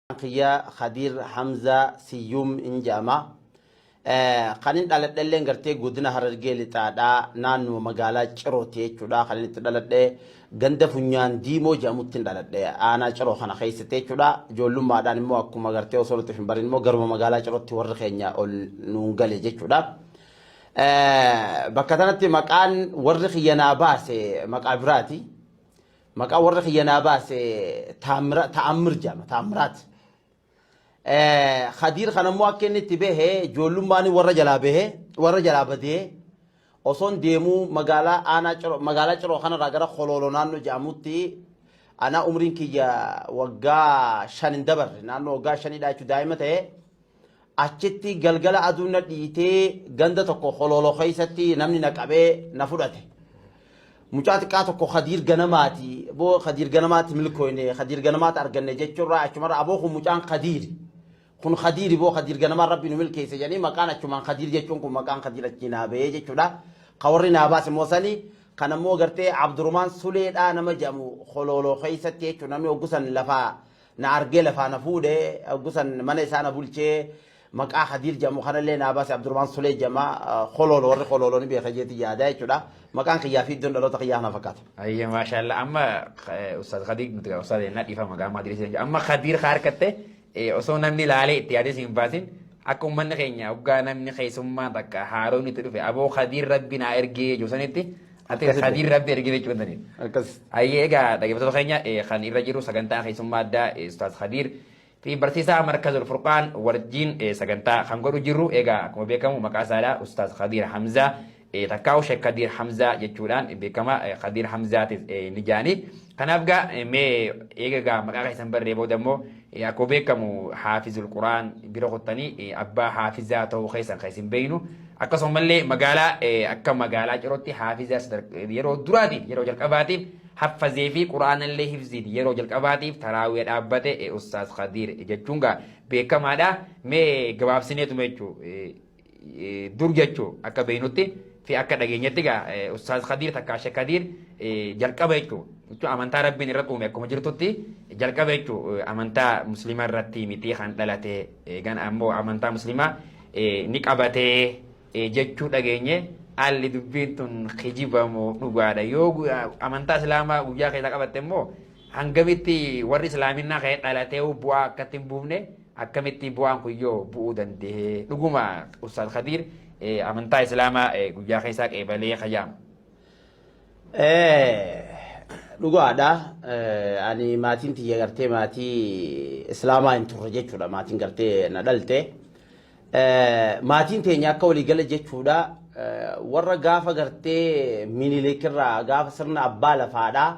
Maqaan kiyya Khadir Hamza Siyyum in jedhama. Kanin dhaladhelleen gartee godina Harargee lixaadha. Naannuma magaalaa Cirooti jechuudha. Kanin itti dhaladhe ganda funyaan diimoo jedhamutti hin dhaladhe. Aanaa Ciroo kana keessatti jechuudha. Ijoollummaadhaan immoo akkuma gartee osoo nuti hin barin immoo garuma magaalaa Cirootti warri keenya ol nuun gale jechuudha. Bakka tanatti maqaan warri kiyya naa baase maqaa biraati. Maqaa warra kiyya naa baase Taamira- Ta'ammir jedhama. Taammiraat. Eh, Khadiir kan ammoo akka inni itti bahe ijoollummaan warra jalaa bahe warra jalaa badee osoon deemuu magaalaa aanaa ciroo magaalaa ciroo kanarraa gara kolooloo naannoo jedhamutti anaa umriin kiyya waggaa shan hin dabarre naannoo waggaa shanidhaa jechuun daa'ima ta'e Achitti galgala aduun na dhiitee ganda tokko holooloo keessatti namni na qabee na fudhate. Mucaa xiqqaa tokko Khadiir Ganamaati. Boo Khadiir Ganamaatti milkooyne, Khadiir Ganamaatti arganne jechuurraa achumarra aboo kun mucaan Khadiiri. Kun Khadiiri boo Khadiir Ganamaa rabbi nu milkeesse jedhanii maqaan achumaan Khadiir jechuun kun maqaan Khadiir achii naa bahee jechuudha. Ka warri naa baase immoo sani kan ammoo gartee Abdurumaan Suleedhaa nama jedhamu holooloo keessatti jechuun namni oggusan lafaa Na argee lafaa na fuudhe, hoggu san mana isaa na bulche, maqaa Kadiir jedhamu kanallee naa baase, Abdurmaan Sulee jedhama, Koloolo, warri Koloolo ni beeka jeeti yaada jechuudha. Maqaan kiyyaa fi iddoon dhaloota kiyyaa kana fakkaata. Ayya maashaallah amma eh, ustaaz Kadiir nuti gaa ustaaz ennaa dhiifama gaa maadiriis jenna. Amma Kadiir haa harkatte eh, osoo namni laalee itti yaadee si hin baasin akka uummanni keenya hoggaa namni keessummaan takka haaroon itti dhufe aboo Kadiir rabbi naa ergee josanitti Ati Akkas kadiir illee. rabbi ergee jechuun tani. Akkas. Ayyee egaa dhaggeeffattoota keenya eh, kan irra jiru sagantaa keessummaa addaa eh, Ustaaz Khadiir fi barsiisaa Markazul Furqaan wajjin eh, sagantaa kan godhu jirru egaa akkuma beekamu maqaa isaadha Ustaaz Khadiir Hamzaa eh, takkaa'u Sheek Khadiir Hamzaa jechuudhaan beekama eh, Khadiir Hamzaatis eh, ni jaani. Kanaaf gaa mee eega gaa maqaa keessan barree booda immoo akkuma beekamu haafizul quraan bira kuttanii abbaa haafizaa ta'uu keessan kan isin beeknu akkasumallee magaalaa akka magaalaa cirootti haafizaa yeroo duraatiif yeroo jalqabaatiif haffazee fi quraanallee hifziin yeroo jalqabaatiif taraawee dhaabbate ustaaz Khadiir jechuun gaa beekamaadha mee gabaabsineetuma jechuudha. dur jechuu akka beeynutti fi akka dhageenyatti egaa Ustaaz Kadiir takkaa Sheek Kadiir jalqaba jechuu jechuun amantaa Rabbiin irratti uume akkuma jirtutti jalqaba jechuu amantaa musliimaa irratti mitii kan dhalate eegan ammoo amantaa musliimaa ni qabatee jechuu dhageenye haalli dubbiin tun kijibamu dhugaadha yoo amantaa islaamaa guyyaa keessa qabatte immoo hangamitti warri islaaminaa ka'ee dhalatee bu'aa akkatti hin buufne Akkamitti bu'aan kun yoo bu'uu danda'e dhuguma Ustaaz Khadiir amantaa Islaamaa guyyaa keessaa qeebalee kayyaama. Dhugaadha. Ani maatiin tiyya gartee maatii Islaamaa hin turre jechuudha. Maatiin gartee na dhalte. Maatiin teenya akka waliigala jechuudha. Warra gaafa gartee minilikirraa gaafa sirna abbaa lafaadhaa.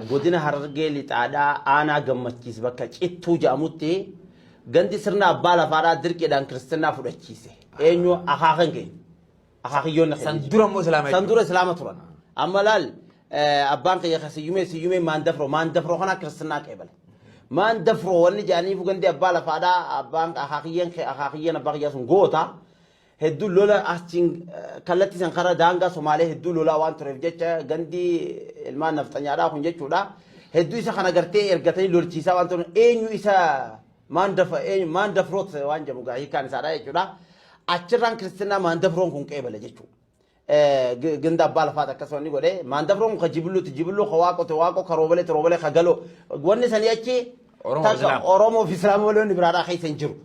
Godina Harargee Lixaadhaa aanaa gammachiis bakka cittuu jedhamutti gandi sirna abbaa lafaadhaa dirqiidhaan kiristinnaa fudhachiise. Eenyu akaakan keenya. Akaakiyyoonni keenya. San dura immoo islaama San dura islaama turan. Amma laal abbaan keenya kan siyyumee siyyumee maan dafroo maan dafroo kanaa kiristinnaa qeebale. Maan dafroo wanni jedhaniifu gandi abbaa lafaadhaa abbaan akaakiyyeen akaakiyyeen abbaa kiyyaa sun goota. hedduu lola achiin kallattii san karaa daangaa Somaalee hedduu lolaa waan tureef jecha gandi ilmaan nafxanyaadhaa kun jechuudha. Hedduu isa kana gartee ergatanii lolchiisaa waan turan eenyu isa maandafa eenyu maandafroot waan jedhamu gaa hiikaan isaadha jechuudha. Achirraan kiristinnaa maandafroon kun qeebale jechuudha. ganda abbaa lafaati akkas wanni godhe maandabroon kun ka jibilluuti jibilluu ka waaqote waaqoo ka roobalee ti roobalee ka galoo wanni sanii achi Oromoo takka Islaam. Oromoo fi Islaam malee wanni biraadhaa keessa hin jiru.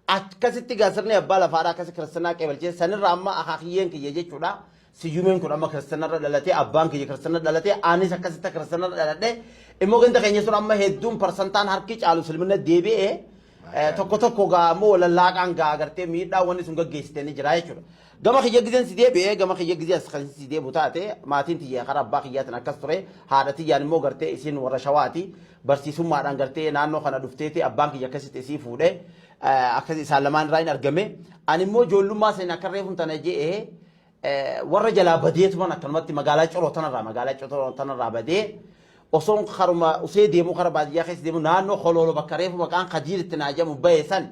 Akkasitti gaa sirni abbaa lafaadhaa akkasi kiristanaa qeebalchee sanirra amma akaakiyyeen kiyya jechuudha. Siyyumeen kun amma kiristanarra dhalatee abbaan kiyya kiristanarra dhalatee anis akkasitti kiristanarra dhaladhee immoo ganda keenya sun amma hedduun parsantaan harki caalu silmina deebi'ee Tokko tokko gaa ammoo lallaaqaan gaa agartee miidhaa wanni sun gaggeessite ni jira jechuudha. Gama kiyya gizeen si deebi'ee gama kiyya gizee as kan si deebu taate maatiin tiyya karaa abbaa kiyyaatiin akkas ture haadha tiyyaan immoo gartee isiin warra shawaati barsiisummaadhaan gartee naannoo kana dhufteeti abbaan kiyya akkasitti isii fuudhe akkas isaan lamaan irraa hin argame ani immoo ijoollummaa seen akka reefun tana je'ee warra jalaa badee tuman akkanumatti magaalaa coroo tanarraa magaalaa coroo tanarraa badee osoon karuma usee deemuu kara baadiyyaa keessa deemuu naannoo koloolo bakka reefu maqaan kadiir itti naa jedhamu bahe san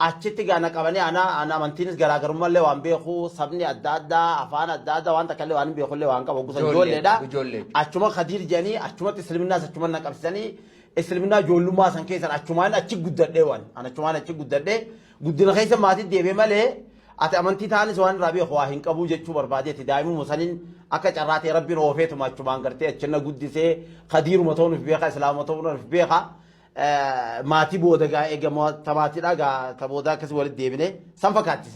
achitti gaana qabanii ana ana amantiinis garaagarummallee waan beeku sabni adda addaa afaan adda addaa waan takkallee waan hin beekullee waan qabu gusa Ijoollee, ijoolleedha ijoollee. achuma kadiir jedhanii achumatti isliminnaa achuma na qabsisanii isliminnaa ijoollummaa san keessan achumaan achi guddadhee waan an achumaan achi guddadhee Guddina keessa maatii deeme malee ati amantii taanis waan irraa beeku waa hin qabuu jechuu barbaadeeti daa'imuma saniin akka carraa ta'e rabbiin oofeetuma achumaan gartee achinna guddisee kadiiruma ta'uun of beeka islaama ta'uun of beeka maatii booda gaa eegama tamaatiidha gaa ta booda akkasii walitti deebine san fakkaatti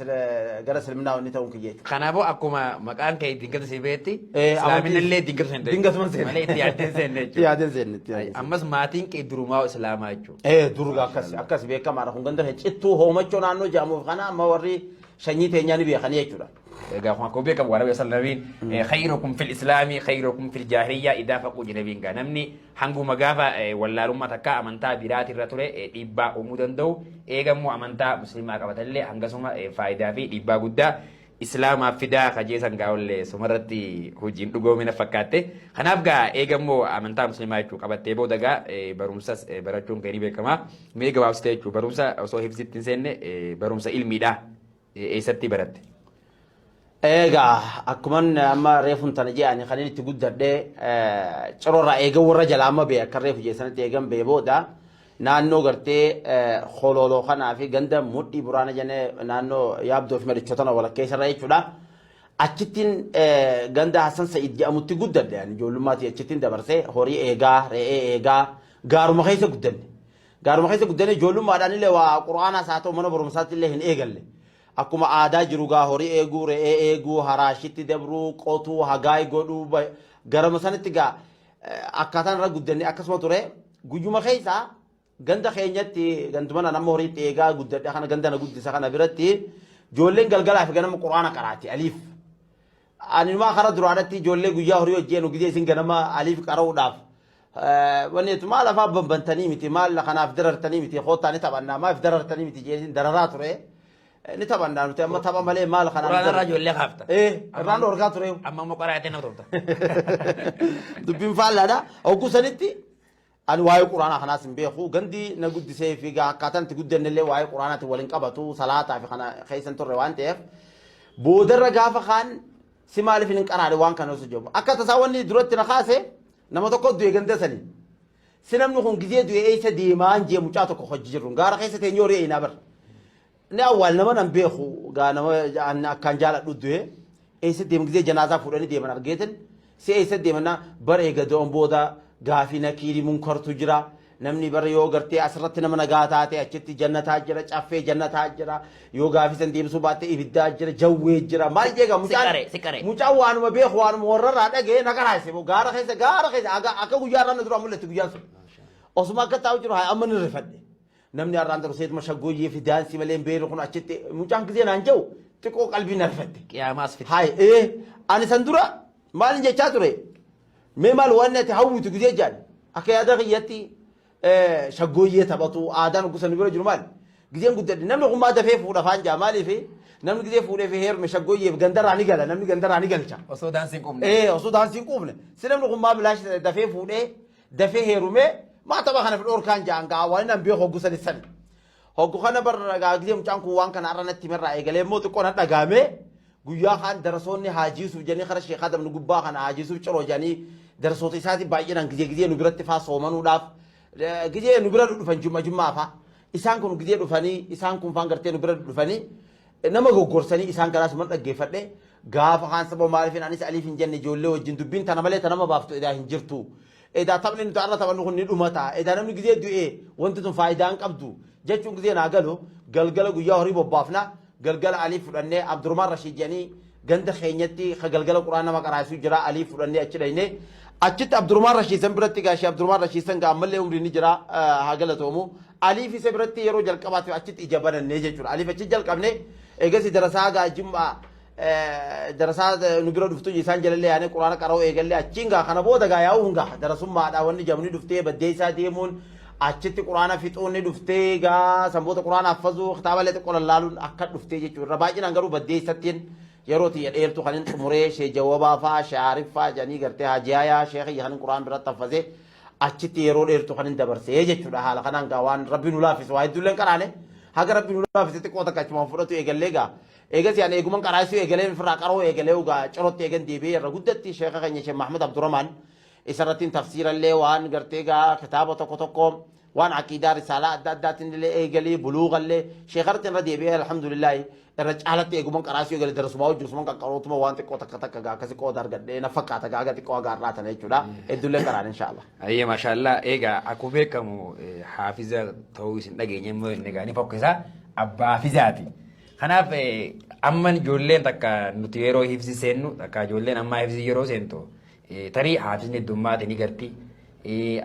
gara islaminaa wanni ta'uun kiyya jechuudha. Kanaafuu akkuma maqaan kee dingata si beetti islaamina illee dingata hin Dingata hin seenne. malee itti yaaddeen seenne Itti jechuudha. yaadeen seenne itti yaadeen seenne. Ammas maatiin kee durumaa islaamaa jechuudha. Ee durga akkas Maashaallah. akkas beekamaadha kun ganda keenya cittuu hoomachoo naannoo jaamuuf kana amma warri sanyii teenyaa ni beekanii jechuudha. Egaa kun akkuma beekamu waan Nabii Sallamiin khayrukum fil islaamii khayrukum fil jaahiliyyaa idaa faquu jinabiin gaa namni hanguma gaafa eh, wallaalummaa takka amantaa biraati irra ture eh, dhiibbaa uumuu danda'u eegammoo amantaa musliimaa qabatallee hangasuma eh, faayidaa fi dhiibbaa guddaa Islaamaaf fidaa ka jeesan gaa ollee sumarratti hojiin dhugoome na fakkaatte. Kanaaf gaa eega immoo amantaa muslimaa jechuu qabattee booda gaa eh, barumsas eh, barachuun kee ni beekama. Mee gabaabsitee jechuu barumsa osoo hifzitti hin seenne eh, barumsa ilmiidha. Eh, Eessatti baratte? Egaa akkuman amma reefun tana jedhani kan inni itti guddadhe cirorraa eegan warra jalaa amma bee akka reefu jeessanitti eegan bee booda Naannoo gartee Holooloo kanaa fi ganda Mudhii Buraana jennee naannoo Yaabdoo fi Madichootana walakkeessa irra jechuudha. Achittiin ganda Hassan Sa'id jedhamutti guddadhe ani ijoollummaatii achittiin dabarsee horii eegaa, re'ee eegaa gaaruma keessa guddanne. Gaaruma keessa guddanne ijoollummaadhaan illee waa quraanaas haa ta'u mana barumsaatti illee hin eegalle. Akkuma aadaa jiru gaa horii eeguu, re'ee eeguu, haraashitti dabruu, qotuu, hagaay godhuu garama sanitti gaa akkaataan irra guddanne akkasuma ture guyyuma keessa ganda keenyatti ganduma nan amma horiitti eegaa guddadhe kana ganda na guddisa kana biratti ijoolleen galgalaa fi ganama quraana qaraati aliif animaa kara duraadhatti ijoollee guyyaa horii hojjeenu gidee isin ganama aliif qara'uudhaaf wanneetu maal afaa bambantanii miti maal kanaaf darartanii miti koottaani taphannaa maaf darartanii miti jeesin dararaa ture. Ni taphannaa nuti amma tapha malee maal kanaan. Quraana irraa ijoollee kaafta. Ee irraan dhorkaa ture. Amma immoo qaraatiin na turta. Dubbiin faallaadha. Hogguu sanitti ani waa'ee quraanaa kanaas hin beeku. Gandi na guddisee fi gaa akkaataan itti guddanne illee waa'ee quraanaatiin wal hin qabatu. Salaataa fi kana keessa hin turre waan ta'eef. Boodarra gaafa kaan si maaliif hin qaraane waan kana osoo jedhamu. Akka tasaa wanni duratti na kaase nama tokko du'e ganda sanii. Si namni kun gizee du'e eessa deemaan jee mucaa tokko hojji jirrun gaara keessa teenyee horii eeynaa bar. Ni awwaal nama nan beeku gaa nama an akkaan jaaladhu du'e eessa deeman gizee janaazaa fuudhanii deeman argeetin si eessa deemannaa bar eega du'an booda gaafii nakiiri munkartu jira namni bar yoo gartee asirratti nama nagaa taate achitti jannataa jira caffee jannataa jira Yoo gaafii san deebisuu baatte ibiddaa jira, jawwee jira, maal jeega mucaan. Siqaree, siqaree. Mucaan waanuma beeku waanuma warrarraa dhaga'ee na garaase moo gaara keessa gaara keessa aga akka guyyaa irraa na duraa mul'atti guyyaan sun. Osuma akka taa'u jiru haa amma ni rifadhe. Namni har'aan dura seetuma shaggooyyee fi daansii malee hin beeku kun achitti mucaan gisee naan ja'u xiqqoo qalbii na rifatte. Qiyaamaas fite. Haay ee ani san dura maalin jechaa ture mee maal waan ati hawwitu gisee jaan akka yaada kiyyatti shaggooyyee taphatu aadaan gusa nu bira jiru maali? Gizeen guddadhe namni kun maa dafee fuudha faan jaa maaliif namni gizee fuudhee fi heerme shaggooyyeef gandarraa ni gala namni gandarraa ni galcha. Osoo daansiin qubne. Ee osoo daansiin quufne si namni kun maa bilaashi ta'e dafee fuudhee dafee heerumee maa tapha kana fi dhorkaan jaan ga'a waan inni hambee hoggusan sani. Hoggu kana barra dhagaagdee mucaan kun waan kana har'a natti himerraa eegalee immoo xiqqoo na dhagaame guyyaa kaan darasoonni haajiisuuf jedhanii kara sheekaa dabnu gubbaa kana haajiisuuf ciroo jedhanii darasoota isaatii baay'inaan gizee gizee nu biratti faa soomanuudhaaf gizee nu bira dhufan jumma jummaa faa isaan kun gizee dhufanii isaan kun faan gartee nu bira dhufanii nama goggorsanii isaan kanaas man dhaggeeffadhe gaafa kaan saba maaliifin anis aliif hin jenne ijoollee wajjin dubbiin tana malee tanama baaftu edaa hin jirtu Edaa taphni nuti har'a taphannu kun ni dhumata, edaa namni gizee du'e wanti tun faayidaa hin qabdu jechuun gizeen haa galu, galgala guyyaa horii bobbaafna, galgala Alii fudhannee Abdurmaan Rashiid jedhanii ganda keenyatti ka galgala Qur'aan nama qaraa'isu jira, Alii fudhannee achi dhayne. Achitti Abdurmaan Rashiid san biratti egaa Shee Abdurmaan Rashiid san gaa ammallee umriin ni jira haa galatoomu. Aliif isa biratti yeroo jalqabaatiif achitti ija bananne jechuudha. Aliif achi jalqabne eegasii darasaa gaa Jim'aa darasaa nu bira dhuftu isaan jalallee yaanee quraana qara'uu eegallee achiin gaa kana booda gaa yaa'uu hin gaa darasummaadha wanni jamni dhuftee baddeessaa deemuun achitti quraana fixuun ni dhuftee gaa san booda quraana haffazuu kitaaballee xiqqoo lallaaluun akka dhuftee jechuudha irra baay'inaan garuu baddeessattiin yeroo tiyya dheertu kanin xumuree shee jawabaa fa'aa shee aariffaa janii gartee haajiyaayaa shee kiyya kanin quraan biratti haffazee achitti yeroo dheertu kanin dabarsee jechuudha haala kanaan gaa waan rabbi nu laaffise waa hedduulleen qaraane haga rabbi nu laaffise xiqqoo takka achumaan fudhatu eegallee gaa Eegasii ani eeguman qaraasisuu eegaleen ofirraa qara'uu eegalee ugaa cirootti eegan deebi'ee irra guddatti sheeka keenya Sheekh Mahmud Abdurrahmaan isarrattiin tafsiirallee waan gartee gaa kitaaba tokko tokko waan aqiidaa risaalaa adda addaatiin illee eegalee buluugallee sheekarratti irra deebi'ee alhamdulillaahi irra caalatti eeguman qaraasisuu eegale darasumaa hojii usuman qaqqarootuma waan xiqqoo takka takka gaa akkasi qooda argadhee na fakkaata gaa aga xiqqoo aga har'aa tana jechuudha hedduullee qaraan inshaallah. Ayyee maashaallah egaa akkuma beekamu eh, haafiza ta'uu isin dhageenya immoo inni egaa ni fokkisaa abbaa haafizaati. Kanaaf amma ijoolleen takka nuti yeroo hifzi seennu takka ijoolleen ammaa hifzi yeroo seentu tarii haafisni heddummaate ni garti.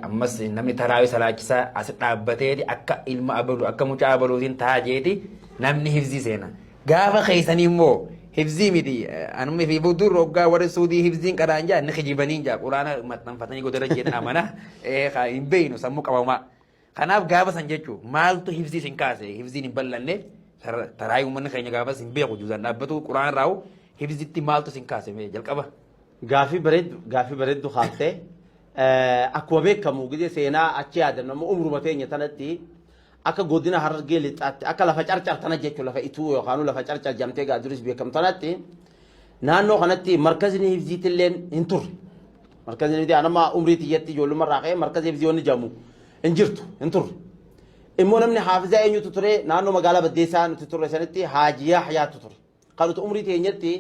Ammas namni taraawii salaachisaa as dhaabbateeti akka ilma abaluu akka mucaa abaluutiin taa jeeti namni hifzi seena. Gaafa keessanii immoo hifzii miti anumni fi budur hoggaa warri suudii hifziin qadaan jaa ni kijibanii jaa quraana maxxanfatanii godara jeetan amana hin beeynu sammuu qabamaa. Kanaaf gaafa san jechuun maaltu hifzii sin kaase hifziin hin bal'anne taraayii uummanni keenya gaafas hin beeku juuzaan dhaabbatu quraan irraa hifzitti maaltu sin kaase mee jalqaba. Gaafii bareeddu gaafii bareeddu kaaftee akkuma beekamu gidee seenaa achi yaadannu amma umruma teenya tanatti akka godina harargee lixaatti akka lafa carcar tana jechuun lafa ituu yookaan lafa carcar jamtee gaa duris beekamu tanatti Naannoo kanatti markazni hifziitilleen hin turre. Markazni hifzii anamma umrii tiyyatti ijoollumma irraa ka'ee markazni hifzii wanni jedhamu hin jirtu hin turre. Immoo namni haafizaa eenyutu ture naannoo magaalaa Baddeessaa nuti turre sanitti Haaji Yaaxyaatu ture. Kan nuti umrii teenyatti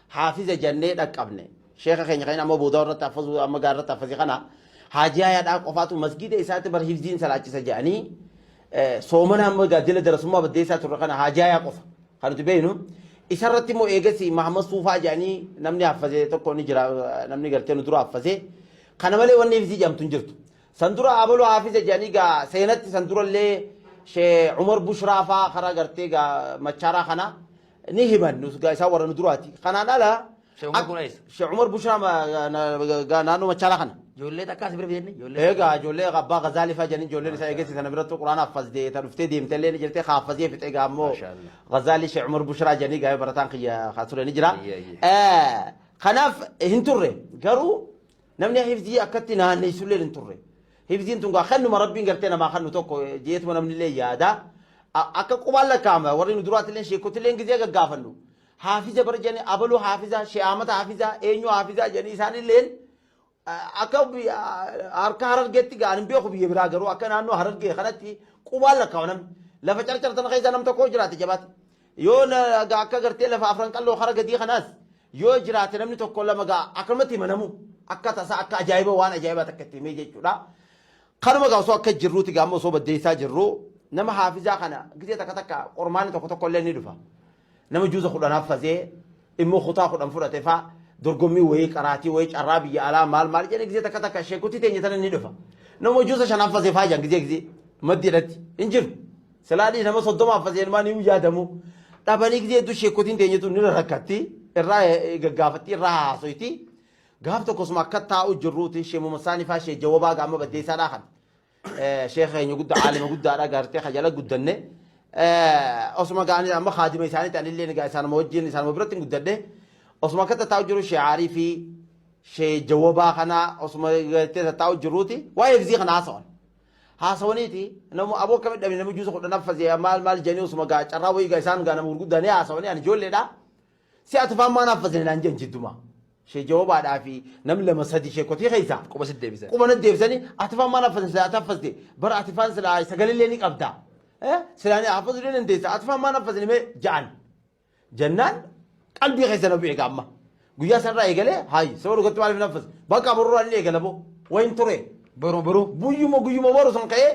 haafiza jennee dhaqqabne. Sheeka keenya kan inni amma boodaa irratti haffazuu amma gaara irratti haffazii kana Haaji Yaaxyaa qofaatu masgiida isaatti bar hifziin salaachisa jedhanii eh, soomana amma gaaddina darasummaa Baddeessaa turre kana Haaji Yaaxyaa qofa. Kan nuti beeknu isa irratti immoo eegasii Mahammad Suufaa jedhanii namni haffazee tokko ni jira namni gartee nu dura haffazee kana malee wanni hifzii jedhamtu hin jirtu. San dura abaluu haafiza jedhanii gaa seenatti san dura illee Sheekh Umar Bushraa faa karaa gartee gaa machaaraa kana ni himan nus gaa isaan warra nu duraati. Kanaan ala Sheikh Umar kun eessa? Sheikh Umar Bushaa ma- ga- na- ga- ga- naannoo Machaalaa kana. Ijoollee takkaa si bira fidanii? Ijoollee Egaa ijoollee abbaa Gazaalii fa'aa jedhanii ijoolleen isaa eegessi sana biratti quraana haffazde ta dhuftee deemte illee ni jirte haaffazee fixee egaa ammoo Mashaallah. Gazaalii Sheikh Umar Bushaa jedhanii gaa'ee barataan kiyya haa ture ni jira. Ayya, ayya. Eh, Kanaaf hin turre garuu namni hifzii akkatti naanneessu illee hin turre. Hifziin tun gaa kennuma rabbiin gartee namaa kennu tokko jeetuma namni illee yaada. A- Akka qubaan lakkaa'ama warri nu duraatti illee sheekkotti illee gizee gaggaafannu. Haafiza bar jedhanii abalu haafizaa, Shee Ahmad haafizaa, eenyu haafizaa jedhanii isaanilleen akka harka harargeetti ga'an hin beeku biyya biraa garuu akka naannoo harargee kanatti qubaan lakkaa'u namni. Lafa carcar sana keessa nam tokko jiraate jabaate. Yoo akka gartee lafa afran qalloo hara gadii kanaas yoo jiraate namni tokko lama ga'a akkanumatti himanamu akka tasaa akka ajaa'iba waan ajaa'ibaa takka itti himee jechuudha. Kanuma gaa osoo akka jirruuti gaa amma osoo baddeessaa jirru nama haafizaa kana gisee takka takka qormaanni tokko tokko illee ni dhufa. Nama juuza kudhan haffazee immoo kutaa kudhan fudhate faa dorgommii wayii qaraatii wayii carraa biyya alaa maal maal jedhee gizee takka takka sheekutti teenya tana ni dhufa. Nama juuza shan haffazee faa jaan gizee gizee maddiidhatti hin jiru. Silaadhii nama soddoma haffazee ilmaan hin yaadamu. Dhabanii gizee hedduu sheekkotiin teenya tun nira rakkatti irraa gaggaafatti irraa haasoyti. Gaaf tokkosuma akka taa'u jirruuti sheemuma saanii faa shee jawabaa gaama baddeessaa dhaakan. sheekha keenya guddaa caalima guddaadha gaartee ka jala guddanne osuma gaanii amma kaadima isaaniitti anillee egaa isaanuma wajjin isaanuma biratti guddadhe osuma akka tattaa'u jiru shee aarii fi shee jawabaa kana osuma gartee tattaa'u jiruuti waa'ee fizii kana haasawan haasawaniiti namu aboo akka midhame namni juusa kudhan affasee maal maal jedhanii osuma gaa carraa wayii gaa isaan gaa nama gurguddaa ni haasawanii ani ijoolleedha Si ati faan maa naaffasine naan jedhan jiddumaa. Shee jawabaadhaa fi nam lama sadi shee kotii keessaa. Quba sit deebisani. Quba nat deebisani ati faan maa naaffasine silaa ati haffaste bara ati faan silaa sagalee ni qabda. Silaa ni haffasu ni dandeessa ati faan maa naaffasine mee ja'an. Jannaan qalbii keessa na bu'e gaamma. Guyyaa sanarraa eegalee haayi sababa dhugatti maaliif naaffas. Bakka borurraa ni eegala boo wayin ture. Boruma boruu. Guyyuma guyyuma boru san ka'ee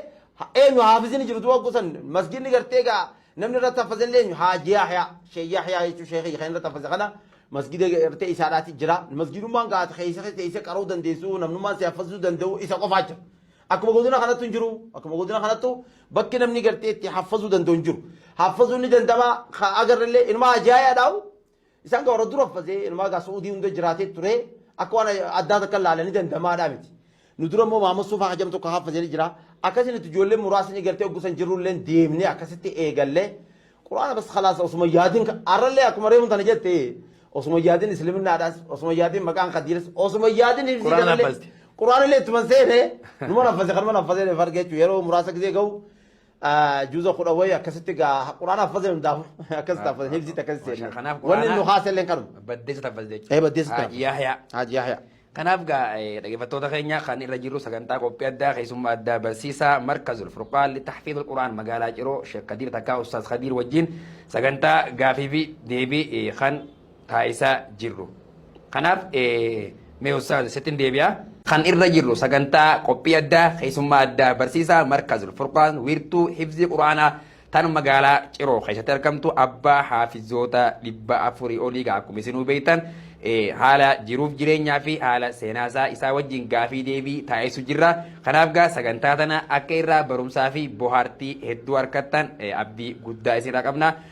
eenyu haafisni jiru du'a gusan masgiinni gartee gaa Namni irratti haffazellee eenyu? Haaji Yahyaa. Sheikh Yahyaa jechuun sheikha kiyya kan irratti haffase kana masgida gartee isaadhaati jira. Masgidummaan gaata keessa keessa isa qara'uu dandeessu namnummaan si haffasuu danda'u isa qofaa jira. Akkuma godina kanattu hin jiru. Akkuma godina kanattu bakki namni gartee itti haffasuu danda'u hin jiru. Haffasuun ni danda'ama agarrellee inuma Haaji Yahyaadhaawu Isaan gaa warra dura fasee inumaa gaa su'uudii hunda jiraatee turee akka waan addaa takka laalanii dandamaadhaa miti. Nu dura immoo maama suufaa hajam tokko haafazee jira. Akkasiin itti ijoollee muraasni gartee oggusan jirrulleen deemnee akkasitti eegallee quraana bas khalaasa osuma yaadin arrallee akkuma reefu tana jette osuma yaadin isliminaadhaas osuma yaadin maqaan kadiiras osuma yaadin hibsii Quraana kanallee hafazte. quraanillee ittuma seene numa nafase kanuma nafase fargeechu yeroo muraasa gisee ga'u juza kudha wayi akkasitti gaa quraana haffazee hundaafu akkasitti haffazee hibsiitti akkasitti Masha, seenne kanaaf wanni quraana- nu haaselleen kanuma Baddeessa taffas jechuudha. ee baddeessa Haaj Yahyaa. haaj yahyaa Kanaaf gaa eh, dhaggeeffattoota keenya kan irra jirru sagantaa qophii addaa keessummaa addaa barsiisaa markazul furqaan litahfiidul quraan magaalaa ciroo sheek kadiir takkaa ustaas kadiir wajjin sagantaa gaafii fi deebii eh, kan taasisaa jirru. Kanaaf mee ustaaza sittin deebi'aa. Kan irra jirru sagantaa qophii addaa keessummaa addaa barsiisaa markazul furqaan wiirtuu hifzii quraanaa tan magaalaa ciroo keessatti argamtu abbaa haafizoota dhibba afurii olii gaa akkuma isinuu beektan haala jiruuf jireenyaa fi haala seenaasaa isaa wajjin gaafii deebii taasisu jirra. Kanaaf gaa sagantaa tana akka irraa barumsaa fi bohaartii hedduu harkattan abdii guddaa isinirraa qabna.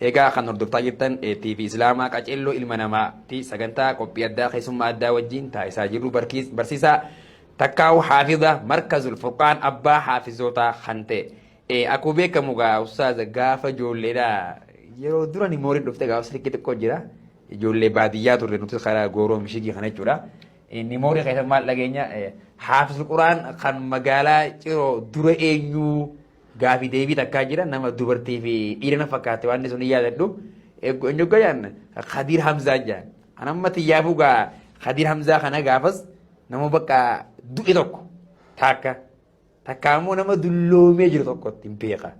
Egaa kan hordoftaa jirtan TV Islaamaa Qaceelloo Ilma Namaa ti sagantaa qophii addaa keessummaa addaa wajjiin taasisaa jirru barkiis- barsiisaa takkaawu haafiza markazul furqaan abbaa haafizootaa kan ta'e Eh, akkuma beekamu gaa ustaaza gaafa ijoolleedha yeroo durani mooriin dhufte gaafa sirkii xiqqoo jira ijoollee baadiyyaa turre nuti karaa gooroo mishigii kana jechuudha inni moorii keessa maal dhageenya eh, haafizul quraan kan magaalaa ciroo dura eenyuu Gaafi deebii takkaa jira nama dubartii fi dhiira na fakkaate waan sun hin yaadadhu. Eeggu eenyu gayaan Khadiir Hamzaa jaan. An amma tiyyaafuu gaa Khadiir Hamzaa kana gaafas nama bakka du'e tokko takka takka ammoo nama dulloomee jiru tokkotti hin beeka.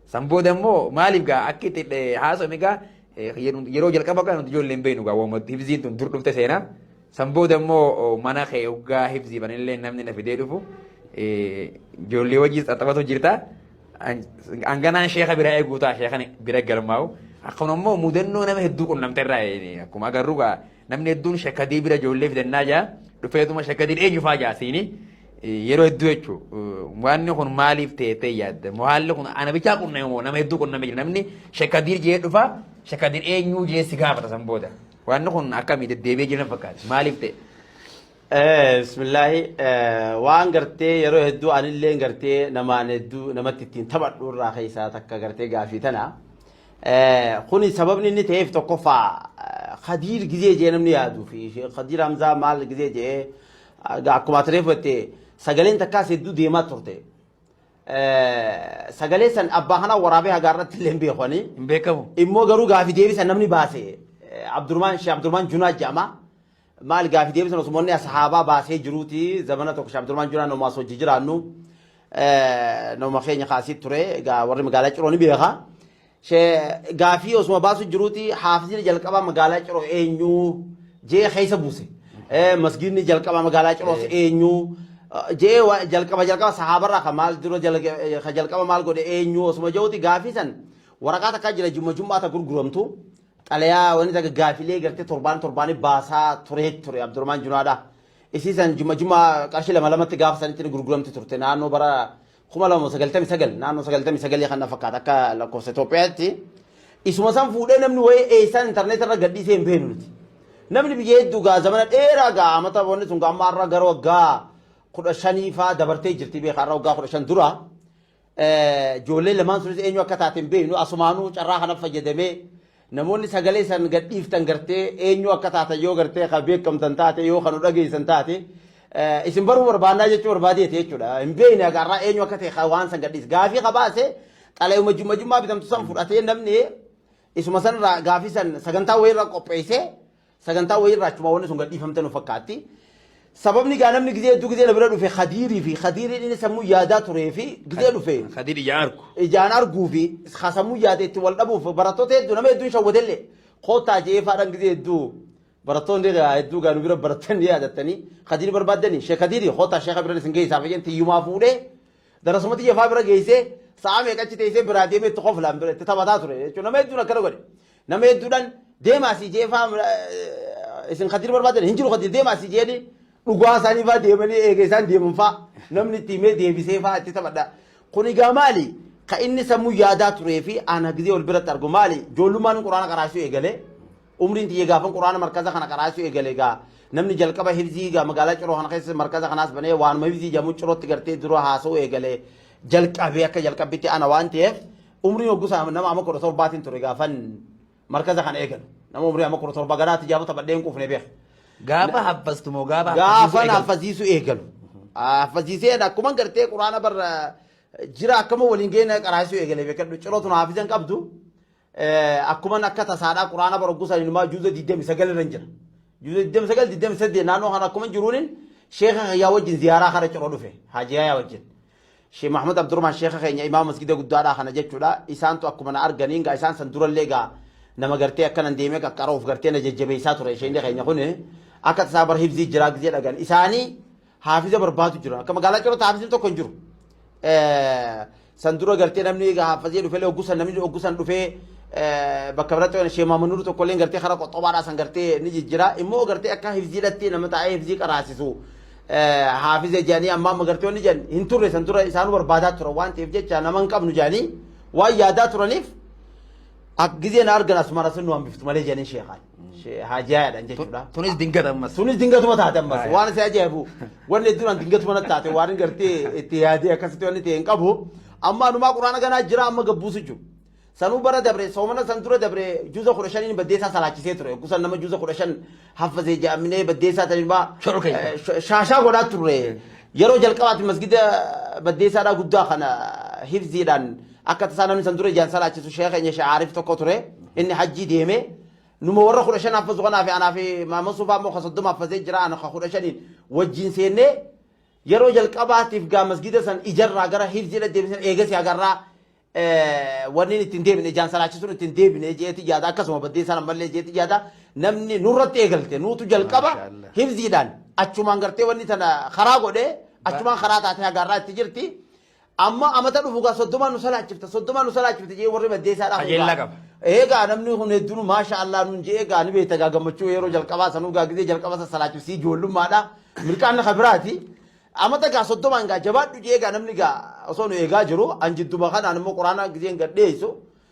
San booda immoo maaliif gaa akka itti haasofne gaa yeroo jalqaba gaa nuti ijoollee hin beeknu gaa waamatti hibziin tun dur dhufte seenaa. San booda immoo mana kee hoggaa hifziifanillee namni na fidee dhufu ijoollee wajjin xaxabatu jirta. Hanganaan sheeka bira eeguu ta'a sheekan bira galmaa'u. Akkuma immoo mudannoo nama hedduu qunnamte irraa akkuma agarru gaa namni hedduun sheekadii bira ijoollee fidannaa jaa dhufeetuma sheekadiin eenyu fa'aa jaa siini yeroo hedduu jechuun waanni kun maaliif teettee yaadda moo haalli kun ana bichaa qunname moo nama hedduu qunname jira namni sheekadiin jee dhufa sheekadiin eenyu jee si gaafata san booda. Waanni kun akkami deddeebi'ee jiran fakkaate maaliif ta'e? Bismillaahi waan gartee yeroo hedduu anillee gartee namaan hedduu namatti ittiin taphadhu irraa keessaa takka gartee gaafii tana. Kuni sababni inni ta'eef tokkoffaa Khadiir gizee jee namni yaaduu fi Khadiir Hamzaa maal gizee jee akkuma ati reeffatte sagaleen takkaas hedduu deemaa turte. Sagalee san abbaa kanaa waraabee hagaa irratti illee hin beeku ani. Hin beekamu. Immoo garuu gaafi deebisa namni baase Abdurmaan Shee Abdurmaan Junaa jedhama. Maal gaafi deebisan osuma inni ashaabaa baasee jiruuti zamana tokko Shee Abdurmaan Junaa nama asoo jijiraannu nama keenya kaasii ture egaa warri magaalaa ciroo ni beeka. She gaafii osuma baasu jiruuti haafizini jalqabaa magaalaa ciroo eenyuu jee keessa buuse. Eh, Masgiidni jalqabaa magaalaa ciroos Eh. eenyuu eh, jee wa- jalqaba jalqaba sahaabarraa ka maal dura jala- eh, ka jalqaba maal godhe eenyuu osuma jiruuti gaafii san waraqaa takkaa jira jumma jummaa ta gurguramtu xalayaa wani takka gaafilee gartee torbaan torbaanii baasaa turee ture Abdurrahmaan Junaadhaa. Isii san jumma jummaa qarshii lama lamatti gaafa sanitti ni gurguramti turte naannoo bara 2099 naannoo 99 kan na fakkaata akka lakkoofsa Itoophiyaatti isuma san fuudhee namni wayii eessaan intarneetii irra gadhiisee hin beeknu nuti. Namni biyya hedduu gaa zamana dheeraa gaa amata wanni sun gaa amma har'a gara waggaa kudha shanii faa dabartee jirti beekaa har'a waggaa kudha shan dura ijoollee lamaan sunis eenyu akka taate hin beeknu asumaanuu carraa kana fayyadamee Namoonni sagalee san gad dhiiftan gartee eenyu akka taatan yoo gartee ka beekamtan taate yoo ka nu dhageessan taate isin baruu barbaannaa jechuu barbaadeeti jechuudha. Hin beekne haga har'aa eenyu akka ta'e ka waan san gad dhiise. Gaafii ka baase xalayuma jumma jummaa bitamtu san fudhatee namni isuma sanirraa gaafii san sagantaa wayirra qopheessee Sagantaa wayii irraa achuma wanni sun gadhiifamte nu fakkaatti. Sababni gaa namni gizee hedduu gizee na bira dhufe Khadiirii fi Khadiiriin inni sammuu yaadaa turee fi gizee dhufe Kadiir ija argu. ijaan arguu fi ka sammuu yaade itti wal dhabuuf barattoota hedduu nama hedduun shawwadellee koottaa je'ee faadhaan gizee hedduu barattoonni gaa hedduu gaa nu bira baratan ni yaadattanii Khadiirii barbaaddanii sheek Khadiirii koottaa sheeka bira isin geessaa fayyeen tiyyumaa fuudhee darasumatti jafaa bira geessee sa'a meeqa achi teessee biraa deemee itti koflaan bira itti taphataa ture jechuun nama hedduun akkana godhe. Nama hedduudhan deema asii jee faa isin kadir barbaadan hin jiru kadir deema asii jeeni dhugaa isaanii faa deemanii eega isaan deeman faa namni itti himee deebisee faa itti taphadha. Kun egaa maali ka inni sammuu yaadaa turee fi ana gizee wal biratti argu maali joollummaan quraana qaraasuu eegalee umriin tiyya gaafan quraana markaza kana qaraasuu eegalee egaa namni jalqaba hibzii egaa magaalaa ciroo kana keessa markaza kanaas banee waanuma hibzii jamu cirootti gartee dura haasa'uu eegalee jalqabee akka jalqabbitti ana waan ta'eef Umrii hoggusaa nama ama kudha torbaatiin ture gaafan markaza kana eegalu. Nama umrii ama kudha torba garaa tijaaba taphadhee hin quufne beeka. Gaafa haffastu moo gaafa Gaafan haffasiisuu eegalu. Haffasiiseen akkuma gartee quraana barra jira akkama waliin geena qaraasuu eegale beekadhu. Cirootu na haafizan qabdu. Akkuma akka tasaadhaa quraana bara hoggusaa inumaa juuza 29 irra hin jira. Juuza 29 28 naannoo kana akkuma jiruunin sheeka yaa wajjin ziyaaraa kara ciroo dhufe. Haajiyaa yaa wajjin. Sheikh Muhammad Abdurrahman Sheikha keenya imaama masgida guddaadhaa kana jechuudha. Isaantu akkuma na arganiin gaa isaan san durallee gaa nama gartee akkanan deemee qaqqara of gartee na jajjabeessaa ture isheen keenya kun akka tasaa bar hibzii jiraa gizee dhagan isaanii haafiza barbaadu jiran akka magaalaa cirota haafizin tokko hin jiru. San dura gartee namni egaa haafazee dhufelee oggusan namni oggusan dhufee bakka biratti waan sheemaa manuru tokko illee gartee karaa qoxxobaadhaa san gartee ni jijjiraa immoo gartee akka hibziidhatti nama taa'ee hibzii qaraasisu haafiza jedhanii amma amma gartee wanni jedhan hin turre san dura isaan barbaadaa turan waan ta'eef jecha nama hin qabnu jedhanii waan yaadaa turaniif ak gizee na argan asmara sun nu hambiftu malee jedhanii sheekaan haajaadhaan jechuudha. Tunis dingata ammas. Tunis dingatuma taate ammas waan isa ajaa'ibu wanni hedduudhaan dingatuma natti taate waan gartee itti yaadee akkasitti wanni ta'e hin qabu amma anumaa quraana ganaa jira amma gabbuusu jiru. Sanuu bara dabre soomana san dura dabre juza kudha shaniin baddeessaa salaachisee ture. Oggusan nama juza kudha shan haffazee ja'aminee baddeessaa san ilmaa Shoro keessa. eh, sh- shaashaa godhaa turre. Yeroo jalqabaati masgida baddeessaadhaa guddaa kana hifziidhaan akka tasaa namni san dura ijaan salaachisu sheekh keenya sheekh Aarif tokko ture. Inni hajjii deeme. Numa warra kudha shan haffazu kanaa fi anaa fi maama sufaa immoo ka soddoma haffazee jira ana ka kudha shaniin wajjin seennee yeroo jalqabaatiif gaa masgida san ijarraa gara hifziidha deebisan eegas agarraa wanni itti hin deebine ijaan salaachisuun itti hin deebine jeeti yaada akkasuma baddee sana malee jeeti yaada namni nurratti eegalte nuutu jalqaba Maashaallah. hibziidhaan achumaan gartee wanni tana karaa godhee achumaan karaa taatee hagaarraa itti jirti amma amata dhufu gaa soddomaa nu salaachifta soddomaa nu salaachifta jee warri baddee isaa Qajeellaa qaba. Eegaa namni kun hedduun maasha Allah nuun jee eegaa ni beekta gaa gammachuu yeroo jalqabaa sanuu gaa gizee jalqaba sana salaachifsii ijoollummaadha milkaanna kabiraati Amata gaa soddomaan gaa jabaadhu jee gaa namni gaa osoo nu eegaa jiru an jidduma kanaan immoo quraanaa gizeen gad dhiyeessu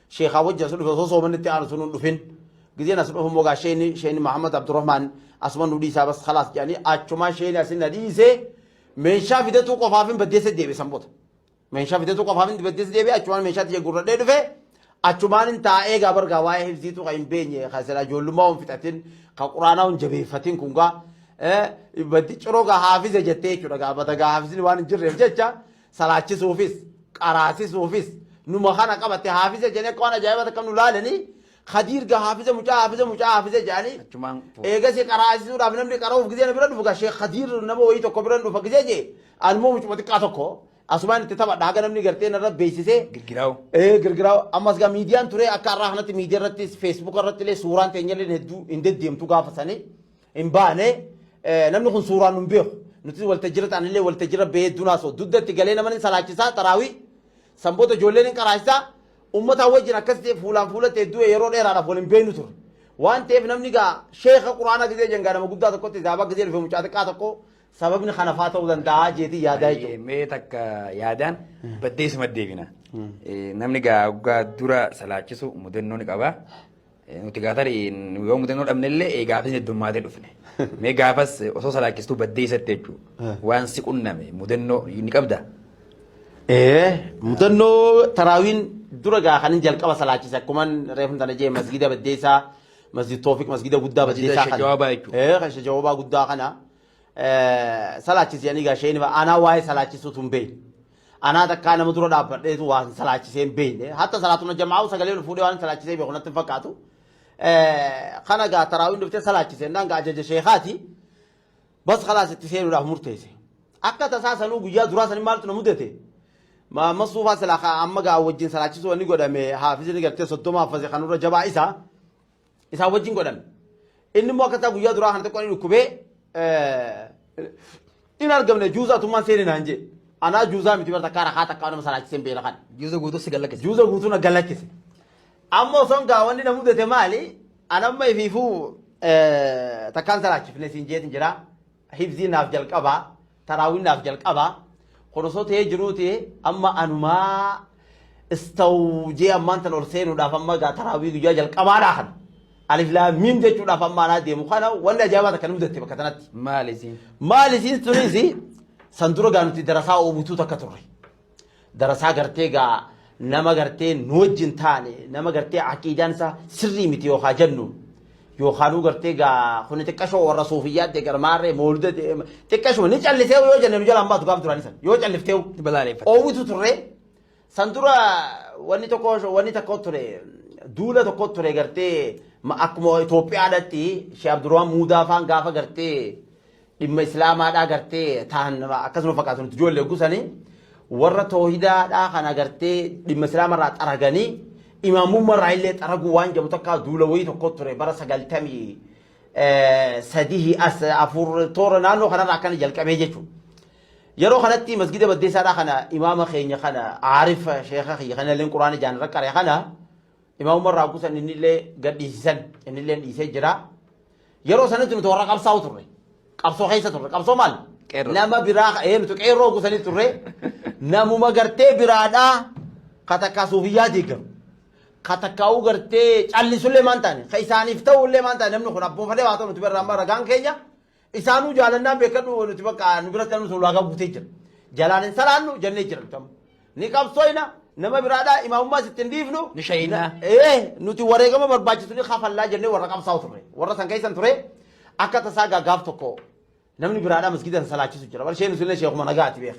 sheekaa wajji as dhufe osoo soomanni itti aanu sun hin dhufin gizeen as dhufu immoo gaa sheeni sheeni Mahammad Abdurrahmaan asuma nu dhiisaa bas khalaas jedhanii achumaan sheeni asin na dhiise meeshaa fidatuu qofaafin baddeessa deebisan bota Meeshaa biteetu qofaaf hin dibaddees deebi'e achumaan meeshaa tiyya gurradhee dhufe achumaan hin taa'ee gaa bargaa waa'ee hifziitu kan hin beenye kan silaa ijoollummaa hin fixatin kan quraanaa hin jabeeffatin kun gaa baddi ciroo gaa haafiza jettee jechuudha gaa bada gaa haafizni waan hin jirreef jecha salaachisuufis qaraasisuufis numa kana qabatte haafiza jennee akka waan ajaa'ibaa akka nu laalanii Kadiir ga haafiza mucaa haafiza mucaa haafiza jedhanii Achumaan fuudhe. eegasii qaraasisuudhaaf namni qara'uuf gisee na bira dhufu gaa sheekh Kadiir nama wayii tokko bira dhufa gisee jee anmoo mucuma xiqqaa tokko asumaan itti taphadha haga namni gartee narra beeksisee Girgiraawu. ee girgiraa ammas gaa miidiyaan ture akka har'aa kanatti miidiyaa irrattis feesbuuka irratti illee suuraan teenyallee hedduu hin deddeemtu gaafa sanii hin baane Eh, namni kun suuraan nu hin beeku nutis waltajjira ta'anillee waltajjira ba'ee dunaasoo dugdatti galee nama ni salaachisaa taraawii sanboota ijoolleen hin qaraachisaa Ummataa wajjin akkas ta'e fuulaan fuulatti hedduu yeroo dheeraadhaaf wal hin beeknu turre. Waan ta'eef namni gaa sheeka Quraanaa gizee jengaa nama guddaa tokkotti zaabaa gizee dhufe mucaa xiqqaa tokko sababni kana faa ta'uu danda'a jeetii yaadaa Ayyee, jechuudha. mee takka yaadaan baddeesuma deebina. Eh, Namni gaa oggaa dura salaachisu mudannoo ni qaba. Nuti gaatari yoo mudannoo dhabnellee ee gaafas heddummaatee dhufne. Mee gaafas osoo salaachistuu baddee isatti jechuudha. Waan si qunname mudannoo ni qabda. Ee mudannoo taraawiin dura gaa kanin jalqaba salaachise akkuman reefum tana jee masgida baddeessaa masjid toofiq masgida guddaa Masjida baddeessaa Sheikh Jawaabaa jechuudha. Ee kan Sheikh Jawaabaa guddaa kana ee, salaachise ani gaa sheenima aanaa waa'ee salaachisuu tun beeyi. Anaa takkaa nama dura dhaabbadheetu waan salaachisee hin beekne. Hatta salaatuma jamaa'uu sagalee ol fuudhee waan salaachisee beeku natti hin fakkaatu. Kana gaa taraawiin dhuftee salaachisee naan gaa ajaja sheekaati. Bas kalaas itti seenuudhaaf murteesse. Akka tasaa sanuu guyyaa duraa sanii maaltu na mudate? Masuufaa silaa amma gaa wajjin salaachisuu wanni godhame haafisni gartee soddoma haffase kanurra jabaa isaa. isaa wajjin godhan. Inni immoo akkataa guyyaa duraa kana xiqqoo ni dhukkubee hin argamne juuza atummaan seeni naan jee. Anaa juuzaa miti bara takkaa rakaa takkaa nama salaachise hin beela kan. Juuza guutuu si gallakkise. Juuza guutuu na gallakkise. Amma osoon gaa wanni na mudate maali? Anamma ifiifuu takkaan salaachifne siin jeetin jiraa. Hifzii naaf jalqabaa taraawii naaf jalqabaa kun osoo ta'ee jiruuti amma anumaa istawjee ammaan tan ol seenuudhaaf amma gaa taraawii guyyaa jalqabaadhaa kana alif laamiim jechuudhaaf amma anaa deemu kana wanni ajaa'ibaa takka nu mudatte bakka tanatti. Maal isiin? Maal isiin tunis san dura gaa nuti darasaa oobutuu takka turre. Darasaa gartee gaa nama gartee nu wajjin taane nama gartee aqiidaan isaa sirrii miti yookaan jennu yookaanuu gartee gaa kuni xiqqashoo warra suufiyyaatti gara maarree moolda xiqqashuma ni callisee yoo jenne nu jalaan baatu gaaf duraan san yoo calliftee Balaaleffata. oowwitu turre san dura wanni tokko wanni tokko ture duula tokko ture gartee ma- akkuma Itoophiyaadhaatti Shee Abdurrahmaan Muudaa faan gaafa gartee dhimma islaamaadhaa gartee tahan akkasuma fakkaatu nuti ijoollee gusanii warra toohidaadhaa kana gartee dhimma islaamarraa xaraganii imaamummarraa illee xaraguu waan jedhamu takkaa duula wayii tokko ture bara sagaltamii sadihii as afur toora naannoo kanarraa akkana jalqabee jechuudha. Yeroo kanatti masgida baddeessaadhaa kana imaama keenya kana aarifa sheeka kiyya kana illee quraana ijaan rakkare kana Imaam Umar Raakusan innillee gad dhiisisan innilleen dhiisee jira. Yeroo sanatti nuti warra qabsaa'u turre. Qabsoo keessa turre. Qabsoo maal? Qeerroo. Nama biraa ee nuti qeerroo gusanii turre. Namuma gartee biraadhaa ka takkaa suufiyyaa deeggaru. Ka takkaa'uu gartee callisullee maan taane. Ka isaaniif ta'ullee maan taane namni kun abboofalee waa ta'u nuti birraa amma ragaan keenya. Isaanuu jaalannaa beekadhu nuti bakka nu biratti namni sun ulaagaa guutee jira. Jalaan hin salaannu jennee jira nuti amma. Ni qabsooyna nama biraadhaa imaamummaas itti hin dhiifnu. Ni shahiidna. Na- Ee nuti wareegama barbaachisu ni kafallaa jennee warra qabsaa'u turre. Warra san keessan ture akka tasaa gaaf tokko namni biraadhaa masgiida hin salaachisu jira. Bar sheen sunillee sheekuma nagaati beek.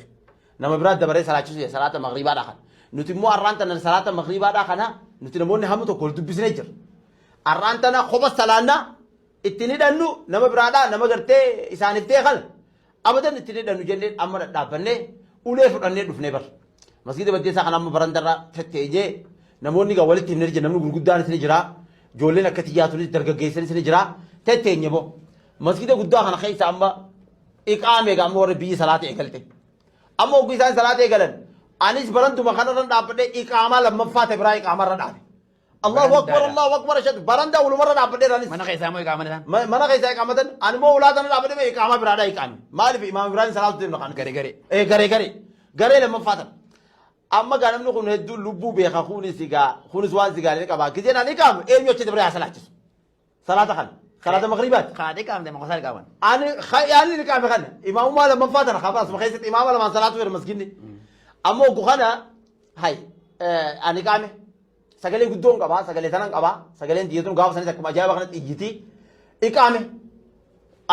Nama biraa dabaree salaachisu jira salaata magriibaadhaa kana. Nuti immoo arraan tana salaata magriibaadhaa kana nuti namoonni hamu tokko wal dubbisnee jira. Arraan tana kopha salaannaa itti hin hidhannu nama biraadhaa nama gartee isaaniif ta'e kana abadan itti hin hidhannu jennee amma dhadhaabbannee ulee fudhannee dhufnee bar masgiida baddeessaa kana amma barandarra fetteenyee namoonni gaa walitti himnee jira namni gurguddaanis ni jira ijoolleen akka tiyyaa tunis dargaggeessanis ni jira tetteenye boo masgiida guddaa kana keessa amma iqaame gaa amma warri biyyi salaata eegalte amma ogguu isaan salaata eegalan anis barantuma kanarran dhaabbadhee iqaamaa lammaffaa ta'e biraa iqaamarra dhaabe Allahu Barandaadha. akbar Allahu akbar ashhadu barandaa wulumarra dhaabbadheera anis. Mana keessaa immoo iqaama isaan. Ma- mana keessa iqaamatan ani immoo ulaa sana dhaabadhe mee iqaamaa biraadha iqaame maaliif imaam ibraahim salaatu deemna kan Garee garee. ee garee garee garee lammaffaa tan amma gaa namni kun hedduu lubbuu beeka kunis egaa kunis waan sigaalee qaba gizeen ani iqaamu eenyu achitti bira haa salaachisu Salaata kana. Salaata magriibaati. Kaa dhiqaamte maqosaa dhiqaaman. Ani yaanni dhiqaame kana imaamummaa lammaffaa tana kafa asuma keessatti imaama lamaan salaatu jira masginni. Amma oggu kana hay ani qaame sagalee guddoon qaba sagalee tanan qaba sagaleen diyyatuun gaafa sanis akkuma ajaa'iba kanatti iyyiti iqaame.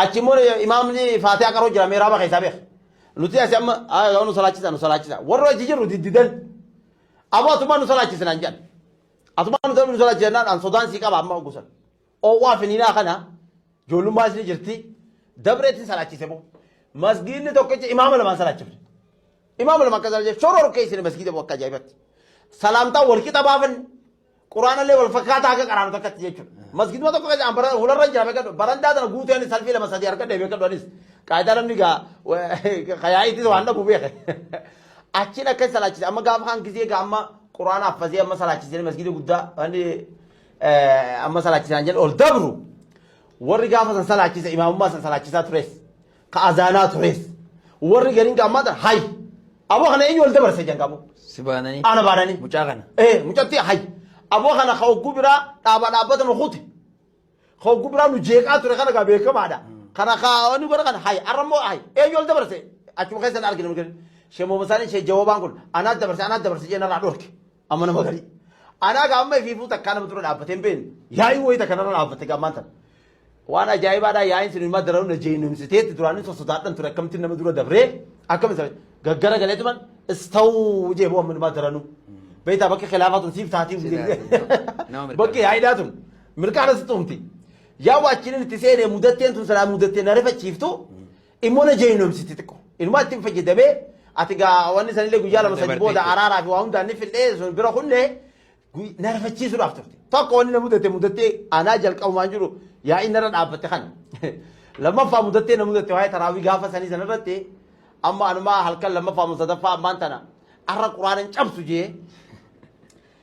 Achi immoo imaamni faatiyaa qaroo jira meeraaba keessaa beeka. Nuti asi amma nu salaachisa nu salaachisa warra achi jirru diddidan. Amma atumaa nu salaachisa naan jedhan. Asumaan utuu nu sodaachisa jennaan an sodaan sii qaba amma oggu san. Oowwaa finiinaa kana ijoollummaa isni jirti dabreetiin salaachise boo. Masgiinni tokkicha imaama lamaan salaachifne. Imaama lama akka salaachifne shoroo rukkee isni masgiida boo akka ajaa'ibatti. Salaamtaa wal qixa baafanne. Quraanallee wal fakkaataa akka qaraanu takkatti jechuudha. Masgiiduma tokko keessa bara hularra jira beekadhu. Barandaa tana guutuu ani salfii lama sadii harka deebi'ee kadhu anis. Qaayidaa namni gaa kayaa'iitis waan dhabu beeke. Achiin akka salaachise amma gaafa kan gisee egaa amma quraana affazee amma salaachisanii masgiida guddaa wanni amma salaachisan jedhe ol dabru warri gaafa san salaachise imaamummaa san salaachisaa tures ka azaanaa tures warri gariin gaammaa tan hay aboo kana eenyu ol dabarse jan qabu Si baananii. ana baananii Mucaa kana. ee mucatti hay aboo kana ka ogguu biraa dhaaba dhaabbatan hukute Hogguu biraa nu jeeqaa ture kana gaa beekamaadha. Kana kaa wanni godha kana hayi arra immoo hayi eenyu ol dabarse achuma keessa na argina mirgani. Shee Moomasaanii shee Jawaabaan kun anaa dabarse anaa dabarse jee narraa dhorke amma nama garii. Anaa gaa amma ifiifuu takkaa nama ture dhaabbatee hin beekne yaa'ii wayii takka narra dhaabbate gaa maanta. Waan ajaa'ibaadhaa yaa'iin sun immoo dararuu na jeenumsiteetti duraan isa sodaadhan ture akkamittiin nama dura dabree akkamitti isa gaggara galee tuman istawu jee boo amma immoo daranuu. Beektaa bakka khilaafaa tun siif taatii Siif taatii, nama mirkana. bakki yaa'iidhaa tun Mirkaana si tumti. Yaa waachiniin itti seenee mudatteen tun sanaa mudattee na rifachiiftu immoo na jeenomsiti xiqqo. Inumaa ittiin fayyadamee ati gaa wanni sanillee guyyaa lama sadi booda araaraa fi waa hundaan ni fidhee sun bira kunne na rifachiisuudhaaf turte. Tokko wanni na mudatte mudattee anaa jalqabumaan jiru yaa inni irra dhaabbatte kana. Lammaffaa mudattee na mudatte waa'ee taraawii gaafa sanii sana irratti amma anumaa halkan lammaffaa musadaffaa ammaan tana arra quraanan cabsu jee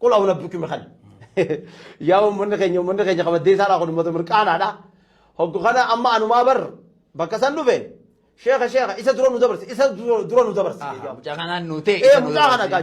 Qul awla bikmi kan. Yaa uummanni keenya uummanni keenya kabaddee isaadhaa kun uummata mirqaanaadha. Hoggu kana amma anumaa bar bakka san dhufe sheeka sheeka isa dura nu dabarse isa dura nu dabarse. Mucaa kanaan nu ta'e. Ee mucaa kana gaa